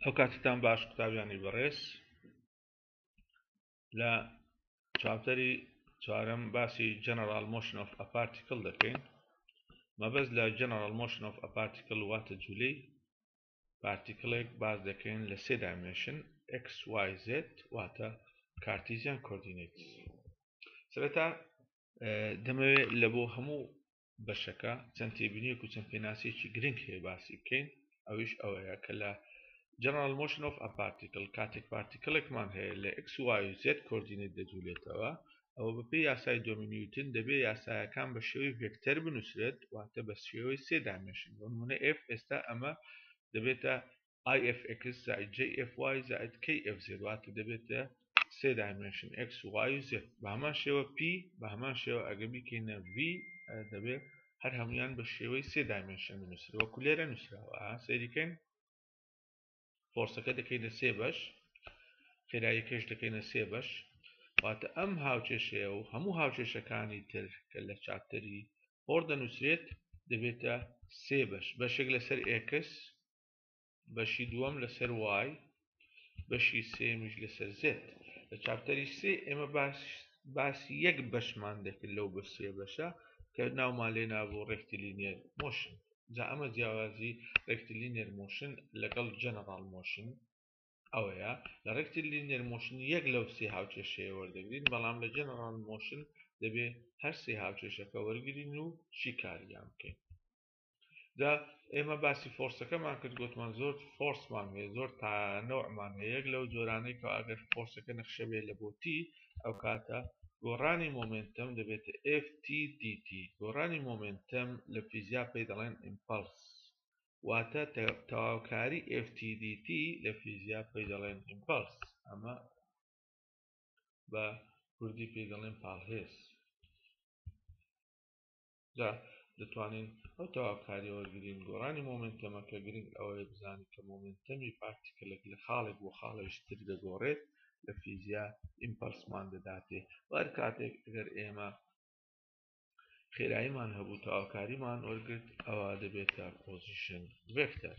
ئەو کاتتان باش قوتابیانی بەڕێز لە چاپتەری چوارم باسی جەنەرال مۆشن ئۆف ئەپارتیکل دەکەین مەبەست لە جەنەرال مۆشن ئۆف ئەپارتیکل واتە جولی پارتیکلێک باز دەکەین لە سێ دایمێشن XYZ واتە کارتیزیان کۆردینیت سرەتا دەمەوێت لە بۆ هەموو بەشەکە چەند تێبینیەک و چەند پێناسەیەکی گرنگ هەیە باسی بکەین ئەویش ئەوەیە کە لە General Motion of a Particle کاتێک پارتیکلێکمان هەیە لە X Y و Z کۆردینێت دەجولێتەوە ئەوە بەپێی یاسای دۆمی نیوتن دەبێ یاسایەکان بە شێوەی ڤێکتەر بنووسرێت واتە بە شێوەی سێ دامێشن بۆ نمونە F ئێستا ئەمە دەبێتە IFX زائد JFY زائد KFZ واتە دەبێتە سێ دایمنشن X و Y و Z بە هەمان شێوە P بە هەمان شێوە ئەگە بیکەینە V دەبێت هەر هەمویان بە شێوەی سێ دایمنشن بنووسرەوە کولێرە نووسراوە سەریکەین فۆرسەکە دەکەینە سێ بەش خێرایی کەش دەکەینە سێ بەش واتە ئەم هاوچێشەیە و هەموو هاوچێشەکانی تر کە لە چاپتەری هۆڕ دەنووسرێت دەبێتە سێ بەش بەشێک لەسەر ئێکس بەشی دووەم لەسەر وای بەشی سێمیش لەسەر زێت لە چاپتەری سێ ئێمە باش باسی یەک بەشمان دەکرد لەو بە سێ بەشە کە ناومان لێ نابوو ڕێکتلینێر مۆشن جا ئەمە جیاوازی ڕێکتلینێر مۆشن لەگەڵ جەنەڕاڵ مۆشن ئەوەیە لە ڕێکتلینێر مۆشن یەک لەو سێ هاوچێشەیە وەردەگرین بەڵام لە جەنەڕاڵ مۆشن دەبێ هەر سێ هاوچێشەکە وەرگین و شیکاریان بکەین جا ئێمە باسی فۆرسەکەمان کرد گوتمان زۆر فۆرسمان هەیە زۆر تا نەوەمان هەیە یەک لەو جۆرانەی کە ئەگەر فۆرسەکە نەخشەبێ لە بۆتی ئەو کاتە گۆڕانی مۆمنتم دەبێت FTDT گۆڕانی مۆمنتم لە فیزیا پێی دەڵێن ئیمپلس واتە تەواوکاری FTDT لە فیزیا پێی دەڵێن ئیمپلس ئەمە بە کوردی پێی دەڵێن پاڵهێز جا دەتوانین ئەو تەواوکاریە وەرگرین گۆڕانی مۆمێنتەمەکە گرنگ ئەوەیە بزانین کە مۆمێنتەمی پارتیکلێک لە خاڵێک بۆ خاڵێکی تر دەگۆڕێت لە فیزیا ئیمپەلسمان دەداتێ و هەر کاتێک گەر ئێمە خێراییمان هەبوو تەواوکاریمان وەرگرت ئەوە دەبێتە پۆزیشن ڤێکتەر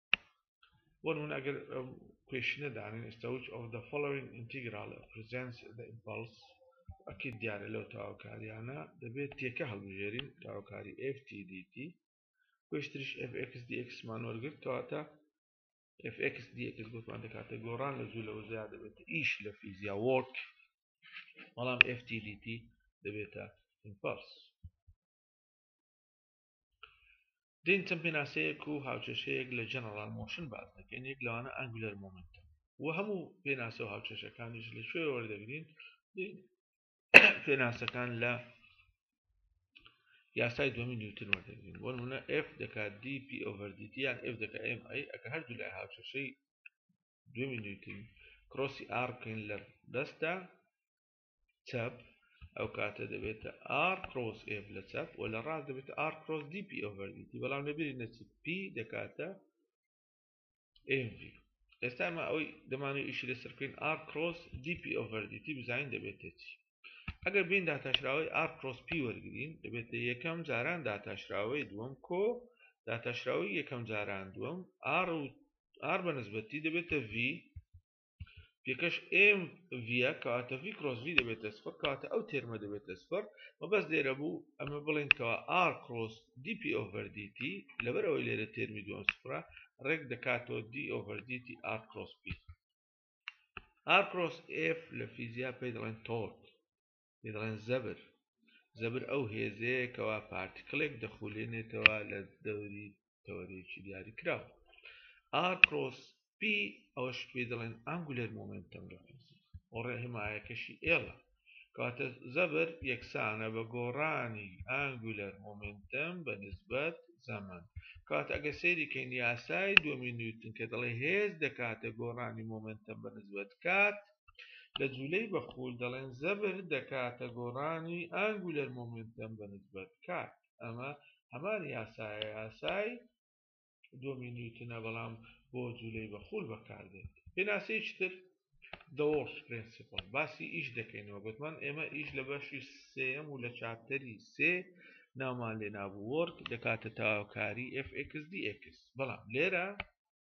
بۆ نمونە ئەگەر کوێشنە دانێن ئێستا وچ ئۆف دە فۆڵۆوینگ ئینتیگرال پرزێنس دە ئیمپاڵس ئەکید دیارە لەو تاوکاریانە دەبێت تێکە هەڵبژێرین تاوکاری FTDT پێشتریش FX DX مان وەرگرت کەواتە FX DX گوتمان دەکاتە گۆڕان لە زوو لەوە زیاد دەبێت ئیش لە فیزیا وۆرک بەڵام FTDT دەبێتە ئیمپاڵس دین چەند پێناسەیەک و هاوکێشەیەک لە جەنەڕاڵ مۆشن باس دەکەین، یەک لەوانە ئەنگولەر مۆمێنتەم و هەموو پێناسە و هاوکێشەکانیش لە کوێوە وەردەگرین؟ دین پێناسەکان لە یاسای دومی نیوتن وەردەگرین بۆ نمونە F دەکات دی پی ئۆڤەر دی یان F دەکات ئێم ئەی ئەگە هەردوو لای هاوکێشەی دومی نیوتن کرۆسی ئاڕ بکەین لە دەستدا چەپ ئەو کاتە دەبێتە ئار کرۆس ئف لە چەپ و لە ڕاست دەبێت ئار کرۆس دی پی ئۆڤەردیتی بەڵام لەبیری نەچی پی دەکاتە MV ئێستا ئەمە ئەوەی دەمانوی ئیشی لەسەر بکەین ئار کرۆس دی پی ئۆڤەردیتی بزانین دەبێتە چی ئەگەر بین داتاشراوەی ئار کرۆس پی وەرگین دەبێتە یەکەم جاران داتاشراوەی دووەم کۆ داتاشراوەی یەکەم جاران دووەم ئار و ئار بە نسبەتی دەبێتە V پێکەش ئێم ڤە کەواتە ڤی کرۆس ڤی دەبێتە سفر کەواتە ئەو تێرمە دەبێتە سفر مەبەست لێرە بوو ئەمە بڵێن کەوا ئار کرۆس دی پی ئۆڤەر دیتی لەبەر ئەوەی لێرە تێرمی دووەم سفرە ڕێک دەکاتەوە دی ئۆڤەر دیتی ئار کرۆس پی ئار کرۆس ئف لە فیزیا پێی دەڵێن تۆرک پێی دەڵێن زەبر زەبر ئەو هێزەیە کەوا پارتیکڵێک دەخولێنێتەوە لە دەوری تەوەرێکی دیاری کراوە ئار کرۆس پی ئەوەش پێی دەڵێن ئەنگولەر مۆمنتم دەپرسی ئۆڕێ هەمایەکەشی ئێڵە کەواتە زەبر یەکسانە بە گۆڕانی ئەنگولەر مۆمنتم بە نسبەت زەمان کات ئەگە سەیری کەین یاسای دومی نیوتن کە دەڵێ هێز دەکاتە گۆڕانی مۆمنتم بە نسبەت کات لە جولەی بە خول دەڵێن زەبر دەکاتە گۆڕانی ئانگولەر مۆمێنتەم بە نسبەت کات ئەمە هەمان یاسایە یاسای دۆمی نیوتنە بەڵام بۆ جولەی بە خول بەکاردێت پێناسەیەکی تر دەوەڵش پرنسیپڵ باسی ئیش دەکەینەوە گوتمان ئێمە ئیش لە بەشی سێم و لە چاپتەری سێ ناومان لێ نابوو وەرک دەکاتە تاوکاری FXDX بەڵام لێرە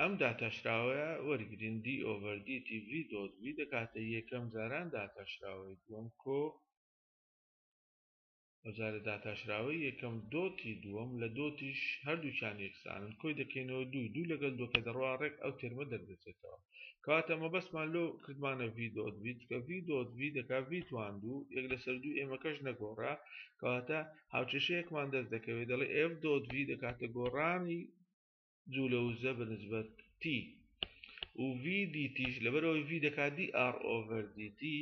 ئەم داتاشراوەیە وەرگرین D over D T V dot V دەکاتە یەکەم جاران داتاشراوەی دووەم کۆ ئەوجارە داتاشراوەی یەکەم دۆتی دووەم لە دۆتیش هەردووچان یەکسانن کۆی دەکەینەوە دوو دوو لەگەل دۆکە دەڕوا ڕێک ئەو تێرمە دەردەچێتەوە کەواتە مەبەستمان لۆ کردمانە ڤی دۆت ڤی چکە ڤی دۆت ڤی دەکا ڤی توان دوو یەک لەسەر دوو ئێمەکەش نەگۆڕا کەواتە هاوچێشەیەکمان دەست دەکەوێت دەڵێ ئێف دۆت ڤی دەکاتە گۆڕانی جولە وزە بە نسبەت تی و ڤی دیتیش لەبەرەوەی ڤی دەکات دی ئار ئۆڤەر دیتی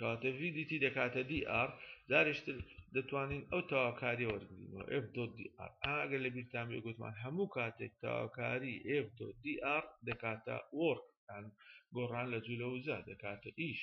کاتە ڤی دیتی دەکاتە دی ئار جارشتر دەتوانین ئەو تاواکاریە وەرگینەوە ئف دۆ دی ئار ئاگەر لە بیرتان بێ گوتمان هەموو کاتێک تاواکاری ئف دۆ دی ئار دەکاتە وۆرک گۆڕان لە جوولە وزە دەکاتە ئیش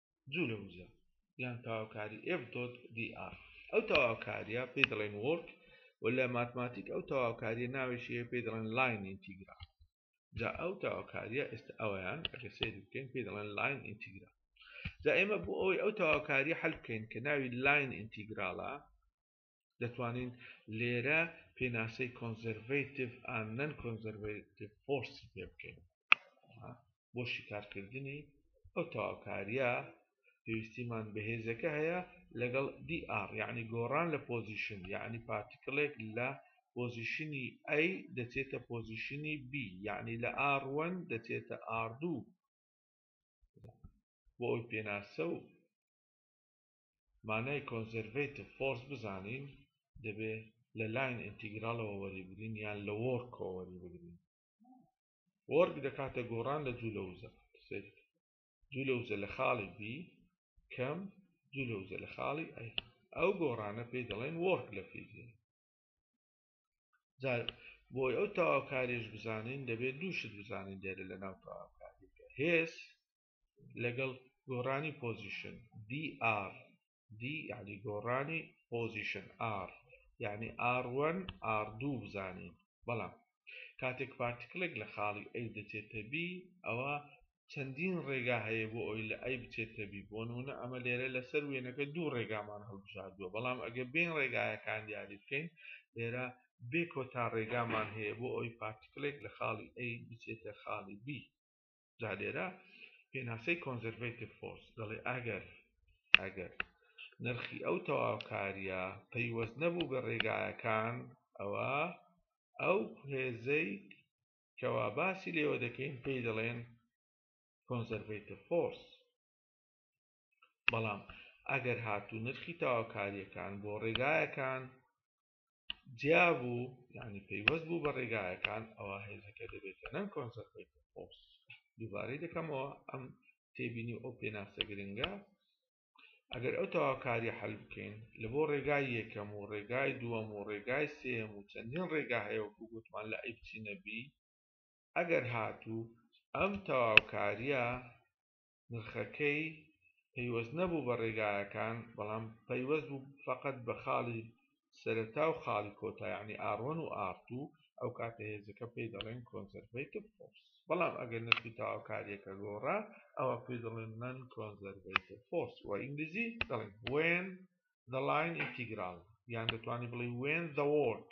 جوو لە وزە یان تەواوکاری ئێف دۆت دی ئاڕ ئەو تەواوکاریە پێی دەڵێن وۆڵک و لە ماتماتیک ئەو تەواوکاریە ناوێکی هەیە پێی دەڵێن لاین ئینتیگرال جا ئەو تەواوکاریە ئێستا ئەویان ئەگەر سەیری بکەین پێی دەڵێن لاین ئینتیگرال جا ئێمە بۆ ئەوەی ئەو تەواوکاریە حەل بکەین کە ناوی لاین ئینتیگرالە دەتوانین لێرە پێناسەی کۆنزەرڤەیتیڤ ئان نەن کۆنزەرڤەیتیڤ فۆرسی پێ بکەین بۆ شیکارکردنی ئەو تەواوکاریە پێویستیمان بەهێزەکە هەیە لەگەڵ DR یعنی گۆڕان لە پۆزیشن یعنی پارتیکلێک لە پۆزیشنی A دەچێتە پۆزیشنی B یعنی لە R1 دەچێتە R2 بۆ ئەوی پێناسە و مانای کۆنزێرڤەیتڤ فۆرس بزانین دەبێ لە لاین ئینتیگراڵەوە وەریبگرین یان لە وۆرکەوە وەریبگرین وۆرک دەکاتە گۆڕان لە جوولەوزە جوولەوزە لە خاڵی بی کەم جوولەوزە لە خاڵی ئەی ئەو گۆڕانە پێی دەڵێن وۆرک لە فیزیا جار بۆی ئەو تەواوکاریش بزانین دەبێت دووشت بزانین دێرە لە ناو تەواوکاریەکە هێز لەگەڵ گۆڕانی پۆزیشن DR D یعنی گۆڕانی پۆزیشن R یعنی R1 R2 بزانین بەڵام کاتێک پارتیکڵێک لە خاڵی A دەچێتە B ئەوە چەندین ڕێگا هەیە بۆ ئەوی لە ئەی بچێتە بی بۆ نمونە ئەمە لێرە لەسەر وێنەکە دوو ڕێگامان هەڵبژاردووە بەڵام ئەگە بین ڕێگایەکان دیاری بکەین لێرە بێ کۆتا ڕێگامان هەیە بۆ ئەوی پارتیکلێک لە خاڵی ئەی بچێتە خاڵی بی جا لێرە پێناسەی کۆنزەرڤەیتیڤ فۆرس دەڵێ ئەگەر ئەگەر نرخی ئەو تەواوکاریە پەیوەست نەبوو بە ڕێگایەکان ئەوە ئەو هێزەی کەوا باسی لێوە دەکەین پێی دەڵێن کۆنزەرڤەیتە فۆرس بەڵام ئەگەر هاتوو نرخی تاواکاریەکان بۆ ڕێگایەکان جیابوو یعنی پەیوەست بوو بە ڕێگایەکان ئەوە هێزەکە دەبێتە نەن کۆنسەرپێت خۆپس دووبارەی دەکەمەوە ئەم تێبینی ئەو پێناسە گرنگە ئەگەر ئەو تەواوکاری حل بکەین لە بۆ ڕێگای یەکەم و ڕێگای دووەم و ڕێگای سێم و چەندین ڕێگا هەیەوەکو گوتمان لە ئەی بچینەبی ئەگەر هاتوو ئەم تەواوکاریە نرخەکەی پەیوەست نەبوو بە ڕێگایەکان بەڵام پەیوەست بوو فەقەت بە خاڵی سەرەتا و خاڵی کۆتا یانی ئاڕ وەن و ئاڕ توو ئەو کاتە هێزەکە پێی دەڵێن کۆنزەرڤەیتڤ فۆرس بەڵام ئەگەر نرخی تەواوکاریەکە گۆڕا ئەوا پێی دەڵێن نەن کۆنزەرڤەیتڤ فۆرس وە ئینگلیزی دەڵێن وێن دە لاین ئینتیگرال یان دەتوانی بڵێ وێن دە وۆرک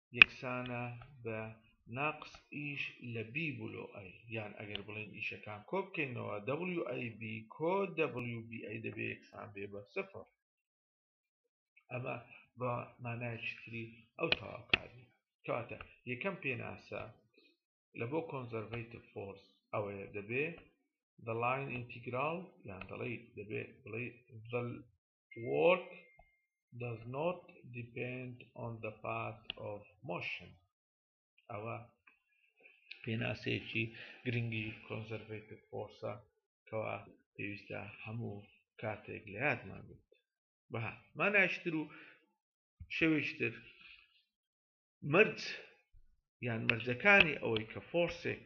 یەکسانە بە ناقس ئیش لە بی بلۆ ئەی یان ئەگەر بڵێین ئیشەکان کۆ بکەینەوە دەبلیو ئەی بی کۆ دەبلیو بی ئەی دەبێ یەکسان بێ بە سفر ئەمە بە مانایەکی تری ئەو تەواوکاری کەواتە یەکەم پێناسە لە بۆ کۆنزەرڤەیتیڤ فۆرس ئەوەیە دەبێ the line integral یان دەڵێیت دەبێت بڵێ the Work does not depend on the path of motion ئەوە پێناسەیەکی گرنگی کۆنزەرڤێتیڤ فۆرسە کەوا پێویستە هەموو کاتێک لە یادمان بێت بە ماناشتر و شەوێشتر مرج یان مەرجەکانی ئەوەی کە فۆرسێک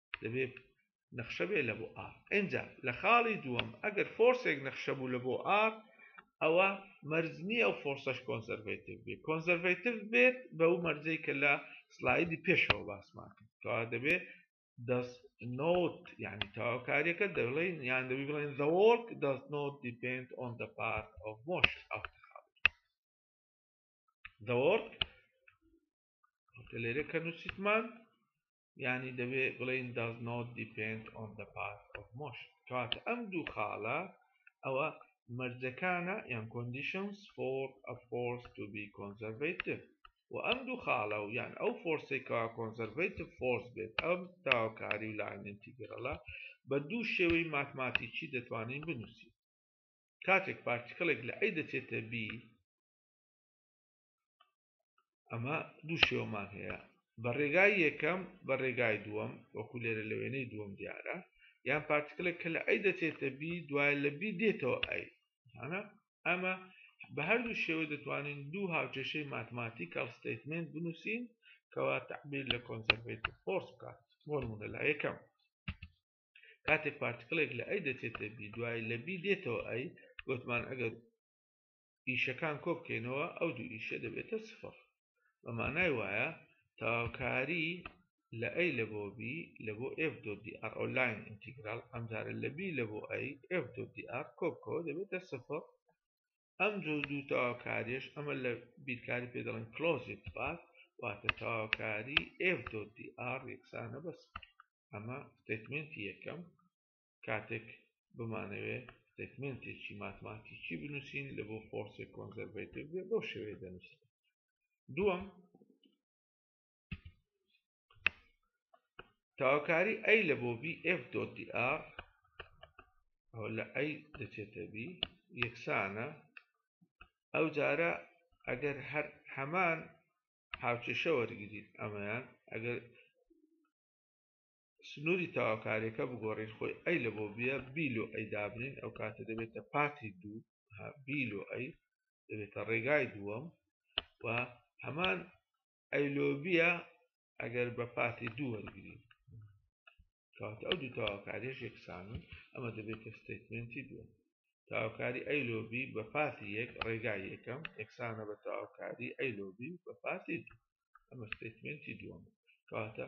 دەبێ نەخشە بێ لە بۆ ئار ئەجا لە خاڵی دووەم ئەگەر فۆرسێک نەخشە بوو لە بۆ ئار ئەوە مەرزنی ئەو فۆرسەش کۆنسەرڤتیو بێت کۆنسەرڤتیو بێت بە و مەرجەی کە لە سلایدی پێشەوە باسمان کەوا دەبێت دەست نوت یعنی تاواکاریەکە دەڵێن یان دەبی بڵێن دەوەک دەست نوت دیپند ئۆن دە پارت ئەو مۆش ئەو دەوەک لێرە کە نووسیتمان یانی دەبێ بڵێن does not depend on the path of motion کەواتە ئەم دوو خاڵە ئەوە مەرجەکانە یان conditions for a force to be conservative و ئەم دوو خاڵە و یان ئەو فۆرسێکا کۆنسەرڤیتیف فۆرس بێت ئەم تاوکاری و لاین ئینتیگرەڵە بە دوو شێوەی ماتماتیکی دەتوانین بنووسین کاتێک پارتیکڵێک لە ئەی دەچێتە بی ئەمە دوو شێوەمان هەیە بە ڕێگای یەکەم بە ڕێگای دووەم وەکو لێرە لە وێنەی دووەم دیارە یان پارتکلێک کە لە ئەی دەچێتە بی دوای لە بی دێتەوە ئەی ئەمە بە هەردوو شێوە دەتوانین دوو هاوکێشەی ماتماتیکەڵ ستیتمنت بنووسین کەوا تعبیر لە کۆنسەرڤیت فۆرس بکات بۆنمونە لا یەکەم کاتێک پارتکلێک لە ئەی دەچێتە بی دوای لە بی دێتەوە ئەی گوتمان ئەگەر ئیشەکان کۆبکەینەوە ئەو دوو ئیشە دەبێتە سفڕ بە مانای وایە تەواوکاری لە ئەی لە بۆ بی لە بۆ ئف دۆدی ئەڕ ئۆلاین ئینتیگرال ئەمجارە لە بی لە بۆ ئەی ئف دۆدی ئەڕ کۆبکەوە دەبێتە سفڕ ئەم جۆ دوو تەواوکاریش ئەمە لە بیرکاری پێ دەڵێن کلۆزیت پات واتە تەواوکاری ئف دۆدی ئەڕ یەکسانە بەس ئەمە ستەیتمێنتی یەکەم کاتێک بمانەوێ ستەیتمێنتێکی ماتماتیکی بنووسین لە بۆ فۆرسێک کۆنزەرڤەیتیڤ بێ بەو شێوەیە دەنووسین دووەم تاوکاری ئەی لە بۆ بی ئف دۆتی ئار ئەو لە ئەی دەچێتە بی یەکسانە ئەو جارە ئەگەر هەر هەمان هاوچێشە وەرگیت ئەمەیان ئەگەر سنوری تەواوکاریەکە بگۆڕین خۆی ئەی لە بۆ بیە بی لۆ ئەی دابنین ئەو کاتە دەبێتە پاتی دوو بی لۆ ئەی دەبێتە ڕێگای دووەم و هەمان ئەی لۆ بیە ئەگەر بە پاتی دوو وەرگین کات ئەو دوو تەواوکاریش یەکسانن ئەمە دەبێتە ستیتمنتی دووە تاوکاری ئەی لۆبی بە پاتی یەک ڕێگای یەکەم یەکسانە بە تاوکاری ئەی لۆبی بە پاتی ئەمە ستیتمنتی دووەم کاتە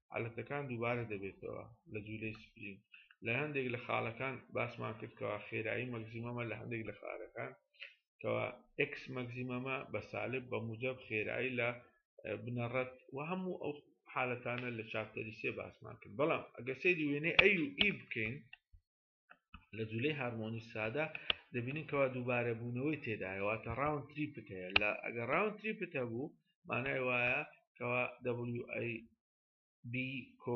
عەلەتەکان دووبارە دەبێتەوە لە جولەی سپرینگ لە هەندێک لە خالەکان باسمان کرد کەوا خێرایی مەگزیمەمە لە هەندێک لە خالەکان کەوا ئکس مەگزیمەمە بە سالب بە موجب خێرایی لە بنەڕەت و هەموو ئەو حالەتانە لە چاپتەری سێ باسمان کرد بەڵام ئەگە سەیری وێنەی ئەی و ئی بکەین لە جولەی هارمۆنی سادە دەبینین کەوا دووبارە بوونەوەی تێدایەوەتە ڕاون تریپت هەیە لە ئەگە ڕاون تریپت هەبوو مانای وایە کەوا WB کۆ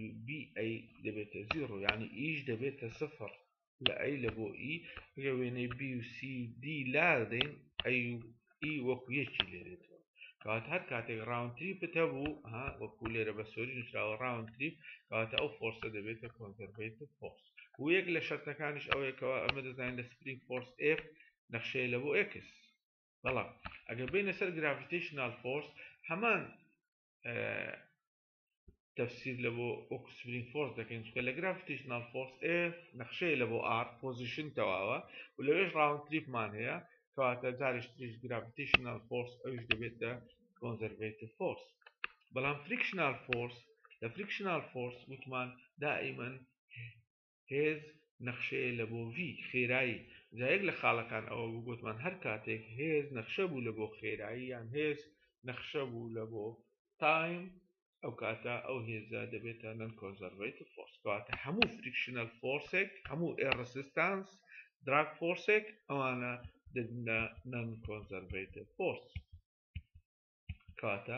WBA دەبێتە زیڕۆ ینی ئیش دەبێتە سفر لە ئەی لە بۆ ئی گە وێنەی BCD لا دەین ئەی ئی وەکو یەکی لێرێتەوە کەواتە هەر کاتێک ڕاوند تریپت هەبوو ها وەکو لێرە بە سۆری نووسراوە ڕاوند تریپ کەواتە ئەو فۆرسە دەبێتە کۆنزەرڤەیت فۆرس و یەک لە شەرتەکانیش ئەوەیەکەوە ئەمە دەزانین لە سپرینگ فۆرس ئێف نەخشەیە لە بۆ ئێکس بەڵام ئەگەر بینە سەر گرافیتیشنال فۆرس هەمان تەفسیر لە بۆ وەکو سپرینگ فۆرس دەکەین چکە لە گرافیتیشنال فۆرس ئێ نەخشەیە لە بۆ ئار پۆزیشن تەواوە و لەوێش ڕاون تریپمان هەیە کەواتە جارش تریش گرافیتیشنال فۆرس ئەوش دەبێتە کۆنزەرڤێتیف فۆرس بەڵام فریکشنال فۆرس لە فریکشنال فۆرس وتمان دائیمەن هێز نەخشەیە لە بۆ ڤی، خێرایی، جا یەک لە خاڵەکان ئەوە بوو گۆتمان هەر کاتێک هێز نەخشە بوو لە بۆ خێرایی یان هێز نەخشە بوو لە بۆ تایم ئەو کاتە ئەو هێزە دەبێتە نەن کۆنزەرڤەیتڤ فۆرس کەواتە هەموو فریکشنەل فۆرسێک هەموو ئێ ڕسیستانس دراگ فۆرسێک ئەوانە دەبنە نەن کۆنزەرڤەیتڤ فۆرس کەواتە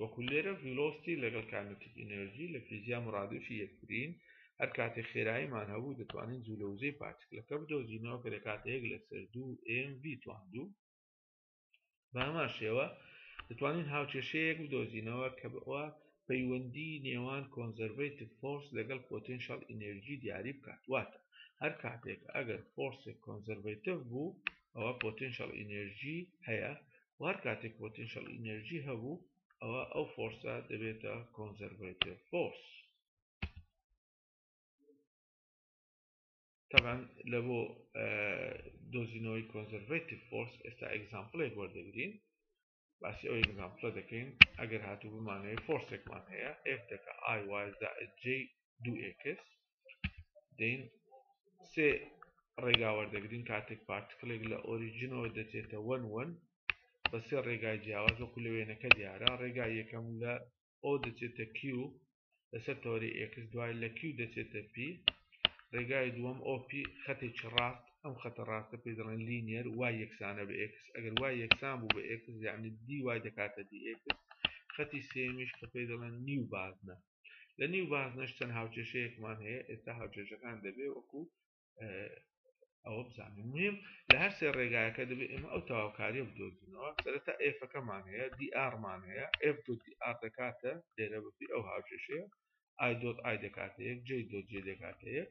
وەکو لێرە ڤیلۆستی لەگەڵ کاینەتیک ئینێرجی لە فیزیا مورادفی یەکترین هەر کاتێ خێراییمان هەبوو دەتوانین جوولە وزەی پارتکلەکە بدۆزینەوە کە دەکاتە یەک لەسەر دوو ئێم ڤی توان دوو بە هەمان شێوە دەتوانین هاوکێشەیەک بدۆزینەوە کە بەوە پەیوەندی نێوان کۆنزەرڤەیتیڤ فۆرس لەگەڵ پۆتێنشەڵ ئینێرجی دیاری بکات واتە هەر کاتێک ئەگەر فۆرسێک کۆنزەرڤەیتیڤ بوو ئەوە پۆتێنشەڵ ئینێرجی هەیە و هەر کاتێک پۆتێنشەڵ ئینێرجی هەبوو ئەوا ئەو فۆرسە دەبێتە کۆنزەرڤەیتڤ فۆرس تەبەن لە بۆ دۆزینەوەی کۆنزەرڤەیتڤ فۆرس ئێستا ئەگزامپلێک وەردەگرین باسی ئەو ئەگزامپلە دەکەین ئەگەر هاتوو بمانەوەی فۆرسێکمان هەیە F دەکە ئای وای زائد جی دوو ئێکس دەین سێ ڕێگا وەردەگرین کاتێک پارتکلێک لە ئۆریجنەوە دەچێتە وەن وەن بە سێ ڕێگای جیاواز وەکو لە وێنەکە دیارە ڕێگا یەکەم لە ئەو دەچێتە کیو لەسەر تەوەری ئێکس دوای لە کیو دەچێتە پی ڕێگای دووەم ئۆپی خەتێکی ڕاست ئەم خەتە ڕاستە پێ دەڵێن لینیەر وای یەکسانە بە ئێکس ئەگەر وای یەکسان بوو بە ئێکس یعنی دی وای دەکاتە دی ئێکس خەتی سێمیش کە پێ دەڵێن نیو بازنە لە نێو بازنەش چەند هاوکێشەیەکمان هەیە ئێستا هاوکێشەکان دەبێ وەکو ئەوە بزانین میم لە هەر سێ ڕێگایەکە دەبێت ئێمە ئەو تاواکاریە بدۆزینەوە سەرەتا ئێفەکەمان هەیە دی ئارمان هەیە ئف دی ئار دەکاتە لێرە بپی ئەو هاوکێشەیە ئای دۆت ئای دەکاتەیەک جێ دۆ جێ دەکاتەیەک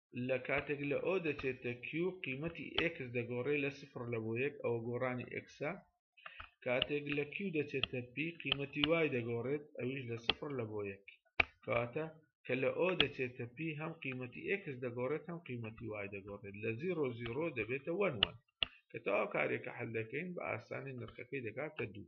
لە کاتێک لە ئۆ دەچێتە کیو قیمەتی ئێکس دەگۆڕێ لە سفر لە بۆ یەک ئەوە گۆڕانی ئێکسە کاتێک لە کیو دەچێتە پی قیمەتی وای دەگۆڕێت ئەویش لە سفر لە بۆ یەک کەواتە کە لە ئۆ دەچێتە پی هەم قیمەتی ئێکس دەگۆڕێت هەم قیمەتی وای دەگۆڕێت لە زیرۆ زیرۆ دەبێتە وەن وەن کە تەواو کارێکە حل دەکەین بە ئاسانی نرخەکەی دەکاتە دوو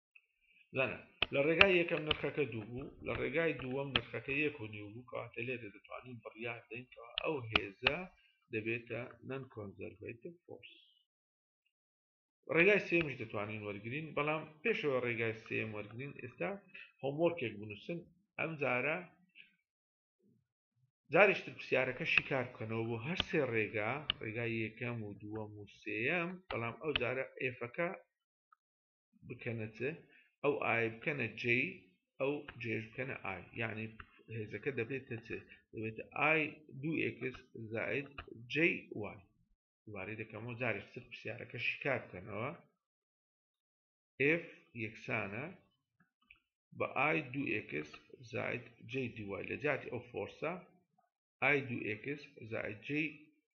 زانە لە ڕێگای یەکەم نرخەکە دوو بوو لە ڕێگای دووەم نرخەکە یەک و نیو بوو کەواتە لێ دەتوانین بڕیار دەینکەوە ئەو هێزە دەبێتە نەن کۆنزەرڤیتیف فۆرس ڕێگای سێمش دەتوانین وەرگین بەڵام پێشەوە ڕێگای سێم وەرگین ئێستا هۆمۆرکێک بنووسن ئەم جارە جارشتر پرسیارەکە شیکار بکەنەوە بۆ هەر سێ ڕێگا ڕێگای یەکەم و دووەم و سێەم بەڵام ئەو جارە ئێفەکە بکەنە چ ئەو ئای بکەنە جێ ئەو جێش بکەنە ئای یعنی هێزەکە دەبێتە چ دەبێتە ئای دوو ئکس زائد جێ وای دوبارەی دەکەمەوە جاری سر پرسیارەکە شیکار بکەنەوە F یەکسانە بە ئای دوو ئکس زائد جێ دوای لە جاتی ئەو فۆرسە ئای دوو ئکس زائد جێ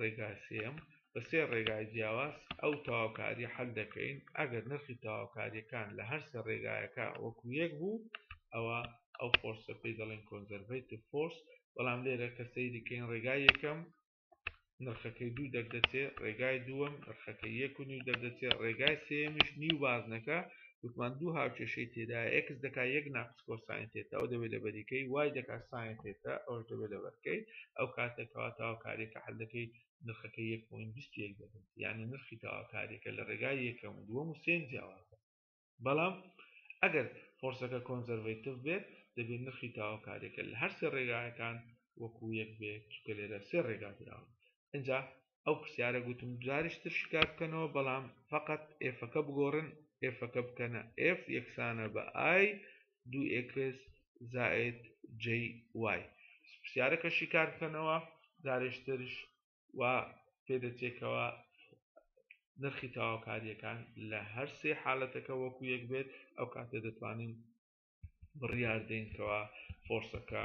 ڕێگای سێیەم بە سێ ڕێگای جیاواز ئەو تەواوکاریە حەل دەکەین ئەگەر نرخی تەواوکاریەکان لە هەرسێ ڕێگایەکە وەکو یەک بوو ئەوە ئەو فۆرسە پێی دەڵێن کۆنزەرڤیت فۆرس بەڵام لێرە کە سەیریکەین ڕێگای یەکەم نرخەکەی دوو دەردەچێت ڕێگای دووەم نرخەکە یەک و نیو دەردەچێت ڕێگای سێمیش نیو بازنەکە وتمان دوو هاوکێشەی تێدا ئەکس دەکا یەک ناقص سکۆر ساین تێتا ئەو دەبێت لە بەریکەی وای دەکات ساین تێتا ئەوش دەبێت لە بەرکەی ئەو کاتە کەوا تاواکاریەکە حل دەکەی نرخەکە یەک پۆین بیست و یەک دەبێت یعنی نرخی تاواکاریەکە لە ڕێگای یەکەم و دووەم و سێم جیاوازە بەڵام ئەگەر فۆرسەکە کۆنزەرڤەیتڤ بێت دەبێت نرخی تاواکاریەکە لە هەر سێ ڕێگایەکان وەکو یەک بێت چونکە لێرە سێ ڕێگا دراون ئینجا ئەو پرسیارە گوتم جاریش تر شکار بکەنەوە بەڵام فقط ئێفەکە بگۆڕن ئێفەکە بکەنە ئف یەکسانە بە ئای دو ئکس زائد جی وای پرسیارەکە شکار بکەنەوە جارێشترش و پێدەچێکەوە نرخی تەواوکاریەکان لە هەر سێ حالەتەکە وەکو یەک بێت ئەو کاتێ دەتوانین بڕیاردەینکەوە فۆرسەکە